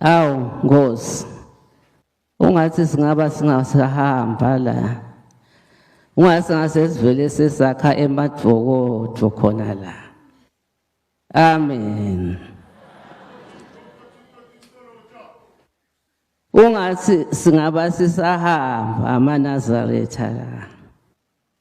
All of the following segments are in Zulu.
Awu Nkosi ungathi singaba singasahamba la ungathi ngasesivele sesakha emadvokodvo khona la amen ungathi singaba sisahamba amanazaretha la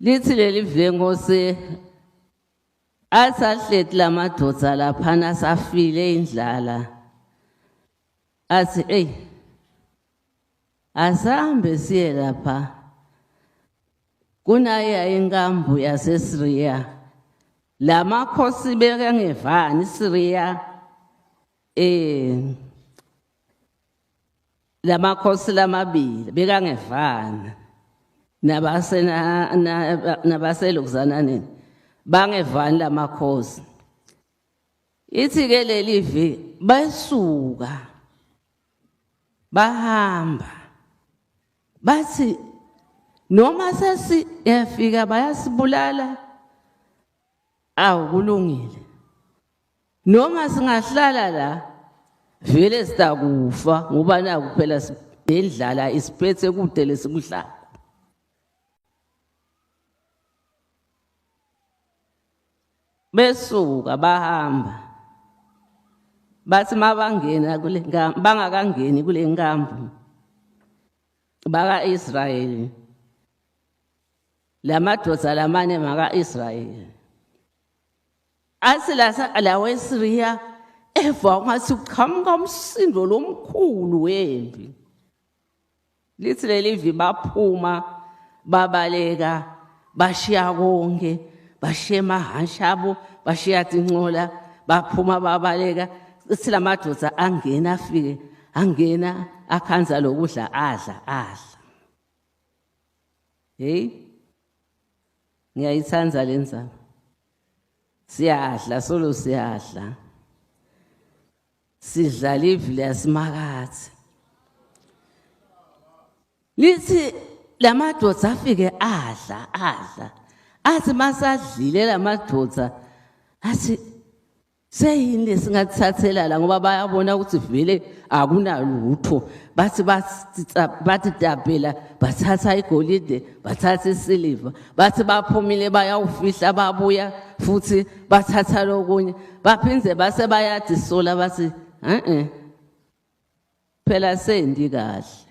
lithi leli vlenkosi asahleti la madoda laphana asafile indlala athi eyi asambe siye lapha kunaye inkambu yasesiriya la makhosi bekangevani isiriya um lamakhosi lamabili bekangevana nabasena nabaselokuzananeni bangevani lamakhosi ithi ke leli vi basuka bahamba bathi noma sesiyafika bayasibulala awu kulungile noma singahlala la vele sitakufa ngoba naku phela nendlala isiphethe kude lesikuhlala besuka bahamba bathi mabangena kule bangakangeni kule nkambo baka-israyeli la madoda lamane maka-israyeli Athi lasa lawe Siriya eva ungathi uqhamuka umsindo lomkhulu wempi. Lithi leli vi baphuma babaleka bashiya konke bashiya amahhashi abo bashiya tincola baphuma babaleka ithi la madoda angena afike angena akhanza lokudla adla adla heyi ngiyayithanda le ndzaba siyadla solo siyadla sidlala ivile yasimakathi lithi la madoda afike adla adla athi masadlile la madoda athi seyini esingathathelala ngoba bayabona ukuthi vele akunalutho bathi bathi dabhela bathatha igolide bathatha isiliva bathi baphumile bayawufihla babuya futhi bathatha lokunye baphinde base bayadisola bathi e-e phela sendi kahle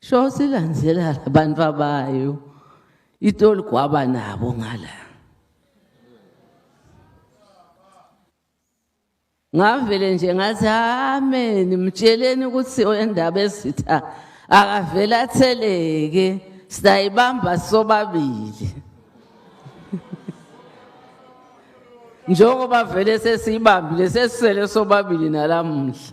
Sho silandzela labantu abayo. Itoli kwaba nabo ngala. Ngavele nje ngathi amen mtsheleni ukuthi oyendaba esitha akavela atheleke sitayibamba sobabili. njengoba vele sesiyibambile sesisele sobabili nalamuhla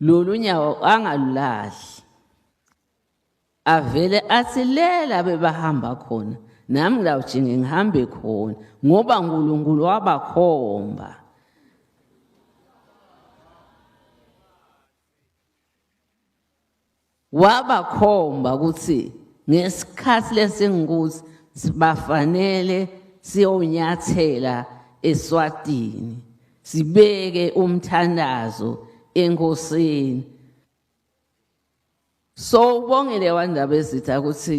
lolu nyawo angalulahli avele athi lela bebahamba khona nami ngilawujinge ngihambe khona ngoba uNkulunkulu wabakhomba wabakhomba ukuthi ngesikhathi lesingukuthi sibafanele siyonyathela eswatini sibeke umthandazo enkosini so ubongele wandaba ezitha ukuthi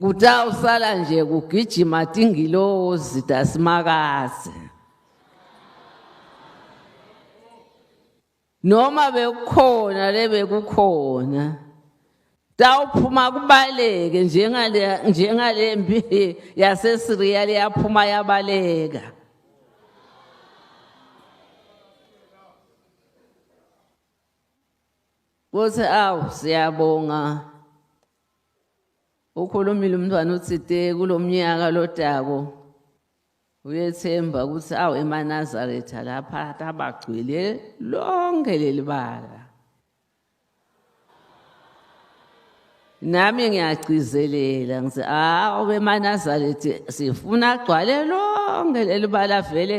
kuta usala nje kugijima tingilozi tasimakazi noma bekukhona lebekukhona tawuphuma kubaleke njengale njengale mpi yaseSiriya liyaphuma yabaleka Kuthi awu siyabonga ukhulumile umntwana uthide kulomnyaka lodako uyethemba ukuthi awu emanazaretha lapha tabagcwele lonke lelibala nami ngiyagcizelela ngithi awu emanazaretha sifuna agcwale lonke lelibala vele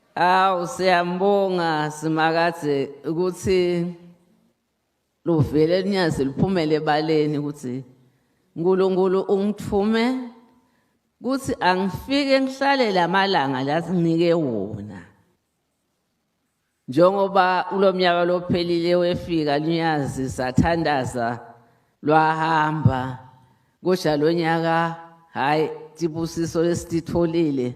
Awu siyambonga simakade ukuthi luvele linyazi liphumele ebaleni ukuthi uNkulunkulu ungithume kuthi angifike ngihlale lamalanga lasinike wona njengoba kulomnyaka lophelile wefika lunyazi sathandaza lwahamba kodwa lonyaka hayi tibusiso lesititholile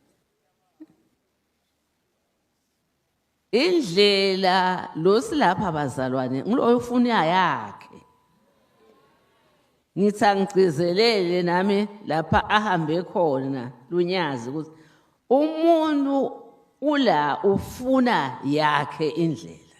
indlela lo silapha bazalwane ngulo oyofuna yakhe ngithi angigcizelele nami lapha ahambe khona lunyazi ukuthi umuntu ula ufuna yakhe indlela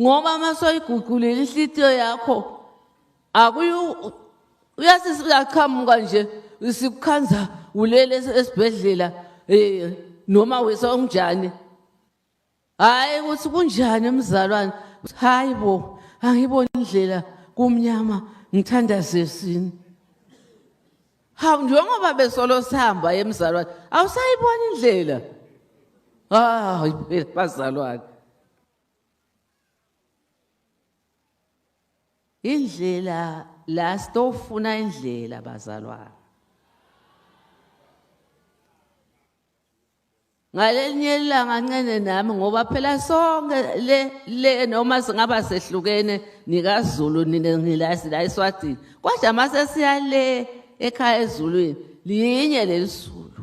ngoba uma soyiguqulile inhlitiyo yakho akuyu uyasisi uyaqhamuka nje sikukhanza ulele esibhedlela eh noma wesa unjani hayi ukuthi kunjani mzalwane hayi bo angiboni indlela kumnyama ngithanda sesini hawu njengoba besolo sihamba emzalwane awusayibona indlela hayi phela bazalwane indlela la sitofuna indlela bazalwane ngalenye ilanga ncene nami ngoba phela sonke le le noma singaba sehlukene nikaZulu nina ngilazi la eSwatini kodwa mase siya le ekhaya ezulwini linye lelisulu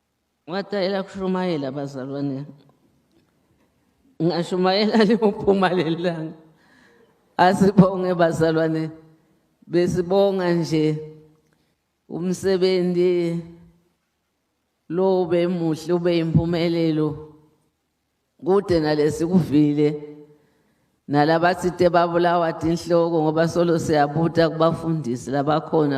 ngatayela kushumayela abazalwane ngashumayela liyophuma lelanga asibonge bazalwane besibonga nje umsebenzi lo bemuhle ube impumelelo kude nalesikuvile nalabathi te babulawa tinhloko ngoba solo siyabuta kubafundisi labakhona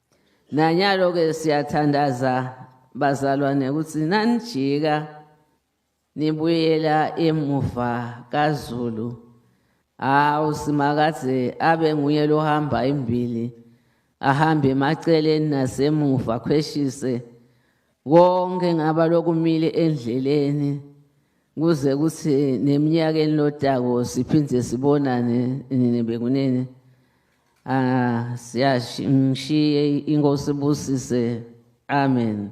Nanyalo ke siyathandaza bazalwane ukuthi nanijika nibuyela emuva kaZulu hawu simakade abe nguye lohamba imbili ahambe emaceleni nasemuva khweshise konke ngaba lokumile endleleni kuze kuthi neminyakeni lotako siphinde sibonane nini bekunini Ah siyashiye inkosi busise. Amen.